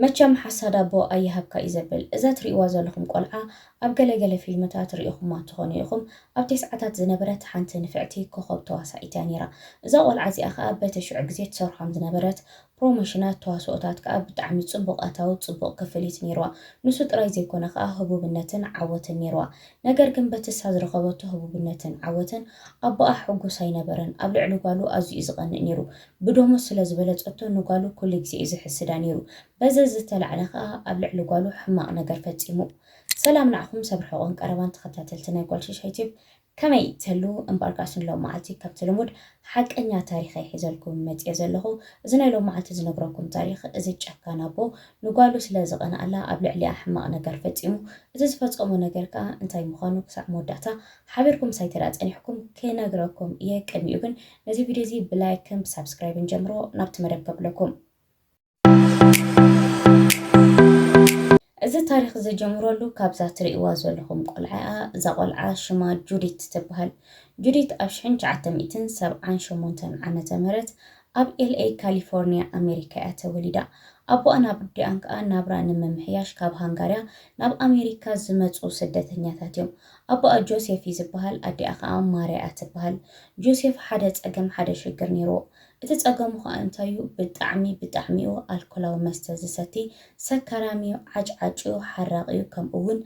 መቸም ሓሳድ ኣቦ ኣይሃብካ እዩ ዘብል። እዛ ትሪእዋ ዘለኹም ቆልዓ ኣብ ገለ ገለ ፊልምታት ሪኢኹማ ትኾኑ ኢኹም ኣብ ቴስዓታት ዝነበረት ሓንቲ ንፍዕቲ ኮኾብ ተዋሳኢት እያ ኔራ እዛ ቆልዓ እዚኣ ከኣ በቲ ሽዑ ግዜ ትሰርሖም ዝነበረት ፕሮሞሽናት ተዋስኦታት ከኣ ብጣዕሚ ጽቡቕ ኣታዊ ጽቡቕ ክፍሊት ኔርዋ ንሱ ጥራይ ዘይኮነ ከኣ ህቡብነትን ዓወትን ኔርዋ ነገር ግን በቲ እሳ ዝረኸበቶ ህቡብነትን ዓወትን ኣቦኣ ሕጉስ ኣይነበረን ኣብ ልዕሊ ጓሉ ኣዚዩ ዝቐንእ ኔሩ ብደሞዝ ስለ ዝበለጸቶ ንጓሉ ኩሉ ግዜ እዩ ዝሕስዳ ነይሩ። በዚ ዝተላዕለ ከኣ ኣብ ልዕሊ ጓሉ ሕማቕ ነገር ፈጺሙ። ሰላም ንዓኹም ሰብ ርሑቕን ቀረባን ተኸታተልቲ ናይ ጓል ሽሻይ ቲዩብ ከመይ ትህልዉ እምበኣርካስ ንሎምዓልቲ ከምቲ ልሙድ ሓቀኛ ታሪኸይ ሒዘልኩም መጺኤ ዘለኹ እዚ ናይ ሎምዓልቲ ዝነግረኩም ታሪኽ እዚ ጨካን ኣቦ ንጓሉ ስለ ዝቐንኣላ ኣብ ልዕሊኣ ሕማቕ ነገር ፈጺሙ እቲ ዝፈጸሞ ነገር ከኣ እንታይ ምዃኑ ክሳዕ መወዳእታ ሓቢርኩም ሳይተዳ ጸኒሕኩም ክነግረኩም እየ ቅድሚኡ ግን ነዚ ቪድዮ እዚ ብላይክን ብሳብስክራይብን ጀምሮ ናብቲ መደብ ከብለኩም እዚ ታሪክ ዝጀምረሉ ካብዛ ትርእይዋ ዘለኹም ቆልዓ እያ። እዛ ቆልዓ ሽማ ጁዲት ትበሃል። ጁዲት ኣብ 1978 ዓመተ ምህረት ኣብ ኤልኤ ካሊፎርኒያ ኣሜሪካ እያ ተወሊዳ። ኣቦኣን ኣቦዲኣን ከዓ ናብራ ንምምሕያሽ ካብ ሃንጋርያ ናብ ኣሜሪካ ዝመፁ ስደተኛታት እዮም። ኣቦኣ ጆሴፍ እዩ ዝብሃል፣ ኣዲኣ ከኣ ማርያ እያ ትብሃል። ጆሴፍ ሓደ ጸገም ሓደ ሽግር ኔርዎ። እቲ ጸገሙ ከኣ እንታይ እዩ ብጣዕሚ ብጣዕሚ እዩ ኣልኮላዊ መስተ ዝሰቲ፣ ሰካራም እዩ፣ ዓጭዓጭ እዩ፣ ሓራቂ እዩ፣ ከምኡ ውን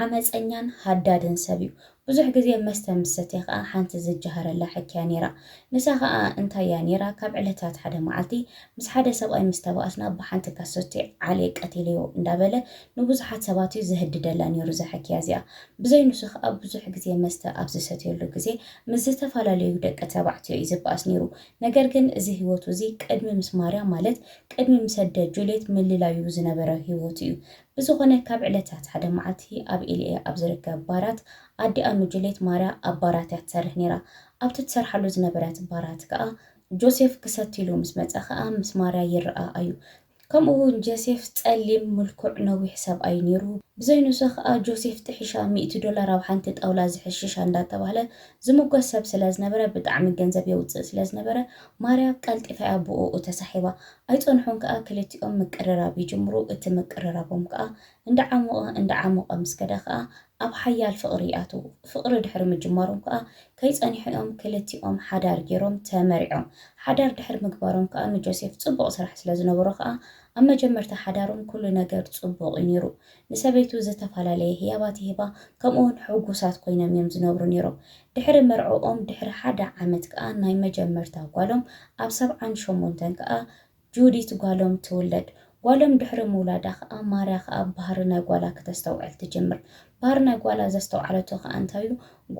ዓመጸኛን ሃዳድን ሰብ እዩ። ብዙሕ ግዜ መስተ ምስ ሰትየ ከኣ ሓንቲ ዝጀሃረላ ሕኪ እያ ኔራ። ንሳ ከኣ እንታይ እያ ኔራ ካብ ዕለታት ሓደ መዓልቲ ምስ ሓደ ሰብኣይ ምስ ተባኣስና ብሓንቲ ካሰቲ ዓልየ ቀቲለዮ እንዳበለ ንብዙሓት ሰባት እዩ ዘህድደላ ነይሩ እዛ ሕክያ እዚኣ። ብዘይ ንሱ ከኣ ብዙሕ ግዜ መስተ ኣብ ዝሰትየሉ ግዜ ምስ ዝተፈላለዩ ደቂ ተባዕትዮ እዩ ዝበኣስ ነይሩ። ነገር ግን እዚ ህይወቱ እዚ ቅድሚ ምስ ማርያ ማለት ቅድሚ ምስ ኣደ ጁልየት ምልላዩ ዝነበረ ህይወቱ እዩ። ብዝኾነ ካብ ዕለታት ሓደ መዓልቲ ኣብ ኤልኤ ኣብ ዝርከብ ባራት ኣዲኣ ንጁልየት ማርያ ኣብ ባራት እያ ትሰርሕ ነይራ ኣብቲ ትሰርሓሉ ዝነበረት ባራት ከኣ ጆሴፍ ክሰትይሉ ምስ መጸ ከኣ ምስ ማርያ ይረኣ ኣዩ። ከምኡ ውን ጀሴፍ ጸሊም ምልኩዕ ነዊሕ ሰብኣይ ኔሩ ብዘይ ኑሳ ከኣ ጆሴፍ ጥሒሻ ሚእቲ ዶላር ኣብ ሓንቲ ጣውላ ዝሕሽሻ እንዳ ተባህለ ዝሙገስ ሰብ ስለ ዝነበረ ብጣዕሚ ገንዘብ የውጽእ ስለ ዝነበረ ማርያ ቀልጢፋ እያ ብኡኡ ተሳሒባ ኣይጸንሑን ከኣ ክልቲኦም ምቅርራብ ይጅምሩ እቲ ምቅርራቦም ከኣ እንዳዓሞቐ እንዳዓሞቐ ምስ ከደ ከኣ ኣብ ሓያል ፍቕሪ ይኣትዉ። ፍቕሪ ድሕሪ ምጅማሮም ከኣ ከይጸንሑ'ዮም ክልቲኦም ሓዳር ጌሮም ተመሪዖም። ሓዳር ድሕሪ ምግባሮም ከኣ ንጆሴፍ ጽቡቕ ስራሕ ስለ ዝነበሮ ከኣ ኣብ መጀመርታ ሓዳሮም ኩሉ ነገር ጽቡቕ'ዩ ኔሩ። ንሰበይቱ ዝተፈላለየ ህያባት ይህባ ከምኡ'ውን ሕጉሳት ኮይኖም'ዮም ዝነብሩ ኔሮም። ድሕሪ መርዕኦም ድሕሪ ሓደ ዓመት ከኣ ናይ መጀመርታ ጓሎም ኣብ ሰብዓን ሸሞንተን ከኣ ጁዲት ጓሎም ትውለድ። ጓሎም ድሕሪ ምውላዳ ከኣ ማርያ ከኣ ባህሪ ናይ ጓላ ክተስተውዕል ትጅምር። ባህሪ ናይ ጓላ ዘስተውዓለቶ ከኣ እንታይ'ዩ?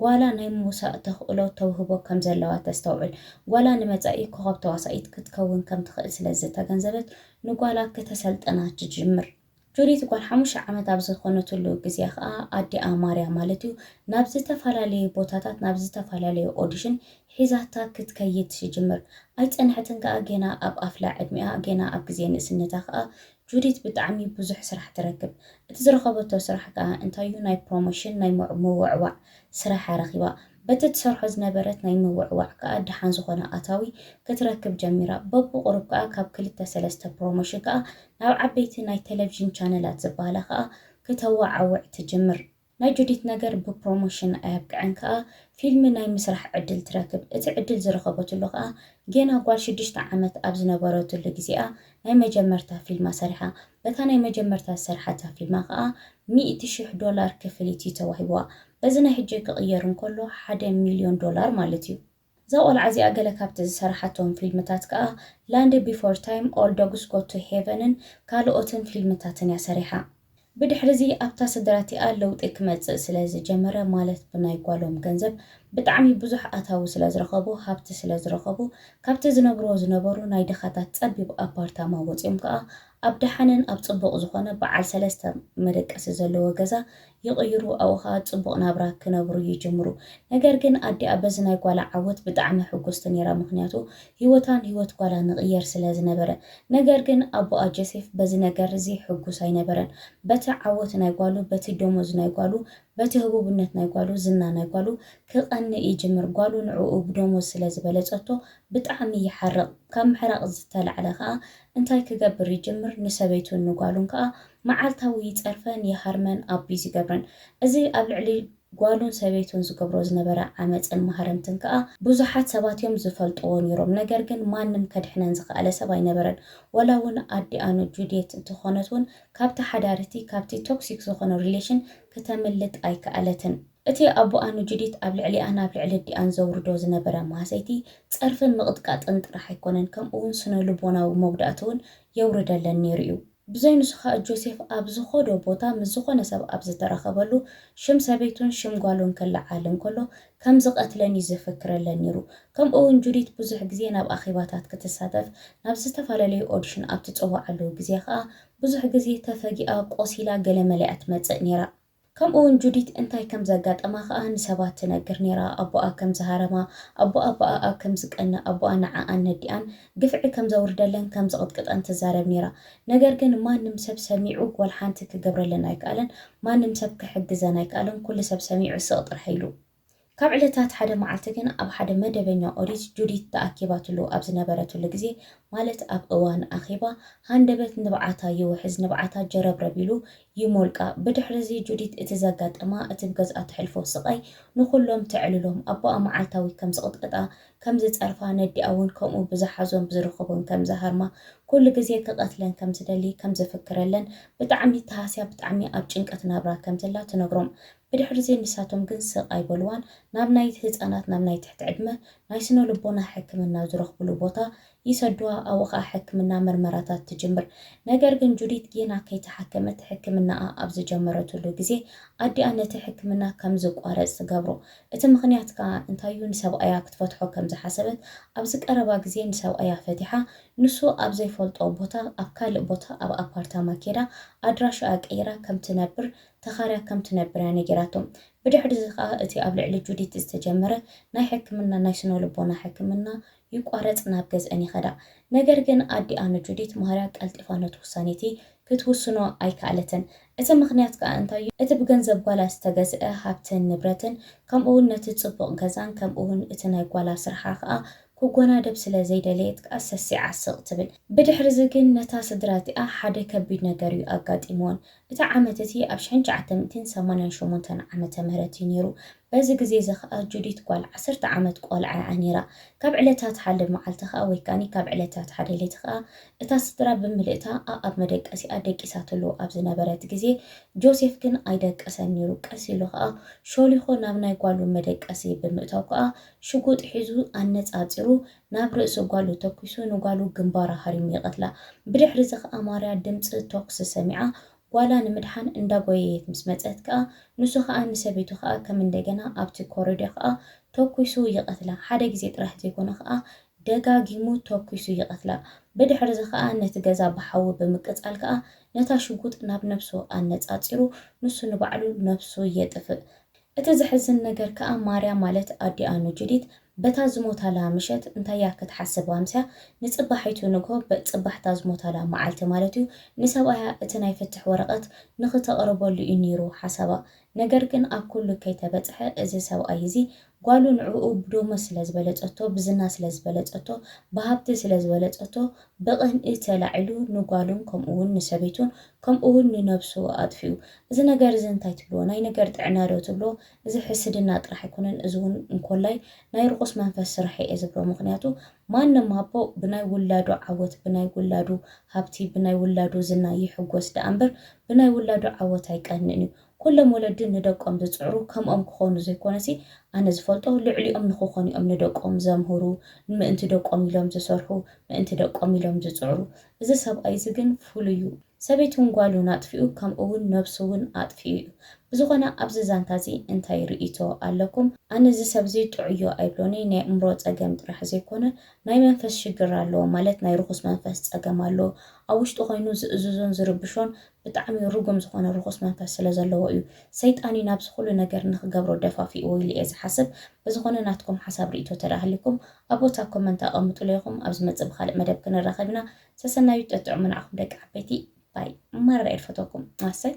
ጓላ ናይ ምውሳእ ተኽእሎ፣ ተውህቦ፣ ከም ዘለዋ ተስተውዕል። ጓላ ንመጻኢ ኮኾብ ተዋሳኢት ክትከውን ከም ትኽእል ስለ ዝተገንዘበት ንጓላ ክተሰልጥና ትጅምር። ጆዲት ጓል ሓሙሽተ ዓመት ኣብ ዝኾነትሉ ግዜ ከኣ ኣዲኣ ማርያ ማለት'ዩ ናብ ዝተፈላለየ ቦታታት ናብ ዝተፈላለየ ኦዲሽን ሒዛታ ክትከይድ ትጅምር። ኣይጸንሐትን ከኣ ጌና ኣብ ኣፍላ ዕድሚኣ ጌና ኣብ ግዜ ንእስነታ ከኣ ጆዲት ብጣዕሚ ብዙሕ ስራሕ ትረክብ። እቲ ዝረኸበቶ ስራሕ ከኣ እንታይ'ዩ ናይ ፕሮሞሽን ናይ ምውዕዋዕ ስራሕ'ያ ረኺባ። በቲ ትሰርሖ ዝነበረት ናይ ምውዕዋዕ ከኣ ደሓን ዝኾነ ኣታዊ ክትረክብ ጀሚራ። በብቑሩብ ከኣ ካብ ክልተ ሰለስተ ፕሮሞሽን ከኣ ናብ ዓበይቲ ናይ ተለቪዥን ቻነላት ዝበሃላ ከኣ ክተወዓውዕ ትጅምር። ናይ ጁዲት ነገር ብፕሮሞሽን ኣየብቅዐን ከኣ ፊልሚ ናይ ምስራሕ ዕድል ትረክብ። እቲ ዕድል ዝረኸበትሉ ከኣ ጌና ጓል ሽዱሽተ ዓመት ኣብ ዝነበረትሉ ግዜ'ያ ናይ መጀመርታ ፊልማ ሰሪሓ። በታ ናይ መጀመርታ ዝሰርሓታ ፊልማ ከኣ ሚእቲ ሽሕ ዶላር ክፍሊት እዩ ተዋሂቡዋ። በዚ ናይ ሕጂ ክቕየር እንከሎ ሓደ ሚልዮን ዶላር ማለት እዩ። እዛ ቆልዓ እዚኣ ገለ ካብቲ ዝሰርሓቶም ፊልምታት ከኣ ላንድ ቢፎር ታይም፣ ኦል ዶግስ ጎ ቱ ሄቨንን ካልኦትን ፊልምታትን እያ ሰሪሓ። ብድሕሪ'ዚ ኣብታ ስድራ'ቲኣ ለውጢ ክመጽእ ስለ ዝጀመረ ማለት ብናይ ጓሎም ገንዘብ ብጣዕሚ ብዙሕ ኣታዊ ስለዝረኸቡ፣ ሃብቲ ስለዝረኸቡ፣ ካብቲ ዝነብርዎ ዝነበሩ ናይ ድኻታት ጸቢብ ኣፓርታማ ወጺኦም ከኣ ኣብ ደሓንን ኣብ ጽቡቕ ዝኾነ በዓል ሰለስተ መደቀሲ ዘለዎ ገዛ ይቕይሩ ኣብኡ ከኣ ጽቡቕ ናብራ ክነብሩ ይጅምሩ። ነገር ግን ኣዲኣ በዚ ናይ ጓላ ዓወት ብጣዕሚ ሕጉስቲ ኔራ ምኽንያቱ ሂወታን ሂወት ጓላን ንቕየር ስለዝነበረ። ነገር ግን ኣቦኣ ጀሴፍ በዚ ነገር እዚ ሕጉስ ኣይነበረን። በቲ ዓወት ናይ ጓሉ በቲ ደሞዝ ናይ ጓሉ በቲ ህቡብነት ናይ ጓሉ ዝና ናይ ጓሉ ክቐንእ ይጅምር። ጓሉ ንዕኡ ብደሞዝ ስለ ዝበለጸቶ ብጣዕሚ ይሓርቕ። ካብ ምሕራቕ ዝተላዕለ ከኣ እንታይ ክገብር ይጅምር ንሰበይቱን ንጓሉን ከኣ መዓልታዊ ይጸርፈን ይሃርመን ኣቢዝ ይገብረን። እዚ ኣብ ልዕሊ ጓሉን ሰበይቱን ዝገብሮ ዝነበረ ዓመጽን ማህረምትን ከኣ ብዙሓት ሰባት እዮም ዝፈልጥዎ ኔሮም። ነገር ግን ማንም ከድሕነን ዝኸኣለ ሰብ ኣይነበረን። ወላ ውን ኣዲኣ ንጁድየት እንተኾነት ውን ካብታ ሓዳርቲ ካብቲ ቶክሲክ ዝኾነ ሪሌሽን ክተምልጥ ኣይከኣለትን። እቲ ኣቡኣ ንጁዲት ኣብ ልዕሊኣን ናብ ልዕሊ ኣዲኣን ዘውርዶ ዝነበረ ማህሰይቲ፣ ጸርፍን ምቕጥቃጥን ጥራሕ ኣይኮነን ከምኡ'ውን ስነ-ልቦናዊ መጉዳእቲ'ውን የውርደለን ነይሩ'ዩ። ብዘይ ንሱ ከኣ ጆሴፍ ኣብ ዝኸዶ ቦታ ምስ ዝኾነ ሰብ ኣብ ዝተራኸበሉ ሽም ሰበይቱን ሽም ጓሉን ክለዓል እንከሎ ከም ዝቐትለን እዩ ዘፈክረለን ነይሩ። ከምኡ እውን ጁዲት ብዙሕ ግዜ ናብ ኣኼባታት ክትሳተፍ ናብ ዝተፈላለዩ ኦዲሽን ኣብ ትጽዋዓሉ ግዜ ኸኣ ብዙሕ ግዜ ተፈጊኣ ቆሲላ ገለ መለ እያ ትመጽእ ነይራ። ከምኡ እውን ጁዲት እንታይ ከም ዘጋጠማ ኸኣ ንሰባት ትነግር ነይራ፣ ኣቦኣ ከም ዝሃረማ፣ ኣቦኣ ብኣኣ ከም ዝቀንእ፣ ኣቦኣ ንዓኣን ነዲኣን ግፍዒ ከም ዘውርደለን ከም ዝቕጥቅጠን ትዛረብ ነይራ። ነገር ግን ማንም ሰብ ሰሚዑ ወልሓንቲ ክገብረለን ኣይከኣለን፣ ማንም ሰብ ክሕግዘን ኣይከኣለን፣ ኩሉ ሰብ ሰሚዑ ስቕ ጥራይ ኢሉ። ካብ ዕለታት ሓደ መዓልቲ ግን ኣብ ሓደ መደበኛ ኦዲት ጁዲት ተኣኪባትሉ ኣብ ዝነበረትሉ ግዜ፣ ማለት ኣብ እዋን ኣኼባ፣ ሃንደበት ንብዓታ ይውሕዝ፣ ንብዓታ ጀረብረብ ኢሉ ይሞልቃ። ብድሕርዚ ጁዲት እቲ ዘጋጠማ፣ እቲ ብገዝኣ ተሕልፎ ስቓይ ንኹሎም ተዕልሎም፣ ኣቦኣ መዓልታዊ ከም ዝቕጥቀጣ ከም ዝጸርፋ፣ ነዲኣ እውን ከምኡ ብዝሓዞን ብዝርኽቦን ከም ዝሃርማ፣ ኩሉ ግዜ ክቐትለን ከም ዝደሊ፣ ከም ዝፍክረለን፣ ብጣዕሚ ተሃስያ ብጣዕሚ ኣብ ጭንቀት ናብራ ከም ዘላ ትነግሮም። ብድሕሪ'ዚ ንሳቶም ግን ስቕ ኣይበልዋን፣ ናብ ናይ ህጻናት ናብ ናይ ትሕቲ ዕድመ ናይ ስነ-ልቦና ሕክምና ዝረኽብሉ ቦታ ይሰዱዋ ኣብኡ ከኣ ሕክምና ምርመራታት ትጅምር። ነገር ግን ጁዲት ጌና ከይተሓከመት ሕክምናኣ ኣብ ዝጀመረትሉ ግዜ ኣዲኣ ነቲ ሕክምና ከም ዝቋረጽ ትገብሮ። እቲ ምኽንያት ከኣ እንታይ'ዩ ንሰብኣያ ክትፈትሖ ከም ዝሓሰበት ኣብዚ ቀረባ ግዜ ንሰብኣያ ፈቲሓ ንሱ ኣብ ዘይፈልጦ ቦታ ኣብ ካልእ ቦታ ኣብ ኣፓርታማ ኬዳ ኣድራሻኣ ቀይራ ከም ትነብር ተኻርያ ከም ትነብር'ያ ነጊራቶ። ብድሕሪ'ዚ ከኣ እቲ ኣብ ልዕሊ ጁዲት ዝተጀመረ ናይ ሕክምና ናይ ስነልቦና ሕክምና ይቋረጽ ናብ ገዝእን ይኸዳ። ነገር ግን ኣዲኣ ንጁዲት ማርያ ቀልጢፋ ነቲ ውሳኔቲ ክትውስኖ ኣይከኣለትን። እቲ ምኽንያት ከኣ እንታይ እዩ? እቲ ብገንዘብ ጓላ ዝተገዝእ ሃብትን ንብረትን ከምኡውን ነቲ ጽቡቕ ገዛን ከምኡውን እቲ ናይ ጓላ ስርሓ ከኣ ክጎናደብ ስለ ዘይደለየት ከኣ ሰሲዓ ስቕ ትብል። ብድሕርዚ ግን ነታ ስድራቲኣ ሓደ ከቢድ ነገር እዩ ኣጋጢምወን። እቲ ዓመት እቲ ኣብ ሽሕን ትሽዓተ ሚእትን ሰማንያን ሸሞንተን ዓመተ ምህረት እዩ ነይሩ። በዚ ግዜ እዚ ኸኣ ጁዲት ጓል ዓሰርተ ዓመት ቆልዓ እያ ነይራ። ካብ ዕለታት ሓደ መዓልቲ ኸኣ ወይ ከኣኒ ካብ ዕለታት ሓደ ለይቲ ኸኣ እታ ስድራ ብምልእታ ኣኣብ መደቀሲኣ ደቂሳትሉ ኣብ ዝነበረት ግዜ ጆሴፍ ግን ኣይደቀሰን ነይሩ ቀስ ኢሉ ኸኣ ሾሊኾ ናብ ናይ ጓሉ መደቀሲ ብምእታው ከኣ ሽጉጥ ሒዙ ኣነጻጺሩ ናብ ርእሲ ጓሉ ተኲሱ ንጓሉ ግንባራ ሃሪሙ ይቐትላ። ብድሕሪ'ዚ ከኣ ማርያ ድምጺ ቶኽሲ ሰሚዓ ጓላ ንምድሓን እንዳጎየየት ምስ መጸት ከኣ ንሱ ከኣ ንሰበይቱ ከኣ ከም እንደገና ኣብቲ ኮረድዮ ከኣ ተኲሱ ይቐትላ። ሓደ ግዜ ጥራሕ ዘይኮነ ከኣ ደጋጊሙ ተኲሱ ይቐትላ። ብድሕሪ'ዚ ከኣ ነቲ ገዛ ብሓዊ ብምቅጻል ከኣ ነታ ሽጉጥ ናብ ነብሱ ኣነጻጺሩ ንሱ ንባዕሉ ነብሱ የጥፍእ። እቲ ዘሕዝን ነገር ከኣ ማርያ ማለት ኣዲኣ ንጁዲት በታ ዝሞታላ ምሸት እንታይ'ያ ክትሓስብ ኣምስያ ንጽባሒቱ ንግሆ በጽባሕ'ታ ዝሞታላ መዓልቲ ማለት'ዩ ንሰብኣያ እቲ ናይ ፍትሕ ወረቐት ንኽተቕርበሉ'ዩ ነይሩ ሓሳባ ነገር ግን ኣብ ኩሉ ከይተበጽሐ እዚ ሰብኣይ እዚ ጓሉ ንዕኡ ብዶመ ስለ ዝበለጸቶ ብዝና ስለ ዝበለጸቶ ብሃብቲ ስለ ዝበለጸቶ ብቕንኢ ተላዒሉ ንጓሉን ከምኡ'ውን ንሰበይቱን ከምኡ ውን ንነብሱ ኣጥፊኡ። እዚ ነገር እዚ እንታይ ትብልዎ? ናይ ነገር ጥዕና ዶ ትብሎ? እዚ ሕስድና ጥራሕ ኣይኮነን እዚ ውን እንኮላይ ናይ ርኹስ መንፈስ ስራሕ እየ ዝብሎ ምኽንያቱ ማንም ኣቦ ብናይ ውላዱ ዓወት ብናይ ውላዱ ሃብቲ ብናይ ውላዱ ዝና ይሕጎስ ደኣ እምበር ብናይ ውላዱ ዓወት ኣይቀንእን እዩ ኩሎም ወለዲ ንደቆም ዝጽዕሩ ከምኦም ክኾኑ ዘይኮነሲ ኣነ ዝፈልጦ ልዕሊኦም ንኽኾኑ እዮም ንደቆም ዘምህሩ ምእንቲ ደቆም ኢሎም ዝሰርሑ ምእንቲ ደቆም ኢሎም ዝጽዕሩ እዚ ሰብኣይ እዚ ግን ፍሉይ እዩ ሰበይቱን ጓሉን ኣጥፊኡ ከምኡ ውን ነብሱ ውን ኣጥፊኡ እዩ ብዝኾነ ኣብዚ ዛንታ እዚ እንታይ ርእይቶ ኣለኩም ኣነ እዚ ሰብ እዚ ጥዑይ እዩ ኣይብሎንይ ናይ ኣእምሮ ጸገም ጥራሕ ዘይኮነ ናይ መንፈስ ሽግር ኣለዎ ማለት ናይ ርኹስ መንፈስ ጸገም ኣለዎ ኣብ ውሽጡ ኮይኑ ዝእዝዞን ዝርብሾን ብጣዕሚ ርጉም ዝኾነ ርኹስ መንፈስ ስለ ዘለዎ እዩ ሰይጣን እዩ ናብዚ ኩሉ ነገር ንኽገብሮ ደፋፊእዎ ኢለ እየ ዝሓስብ ብዝኾነ ናትኩም ሓሳብ ሪኢቶ ተደኣሃሊኩም ኣብ ቦታ ኣብ ኮመንት ኣቐምጡለይ ኢኹም ኣብ ዝመጽእ ብኻልእ መደብ ክንራኸብ ኢና ሰሰናዩ ጠጥዑሙ ንዓኹም ደቂ ዓበይቲ ባይ ማረር እየ ድፈተኩም ኣሰይ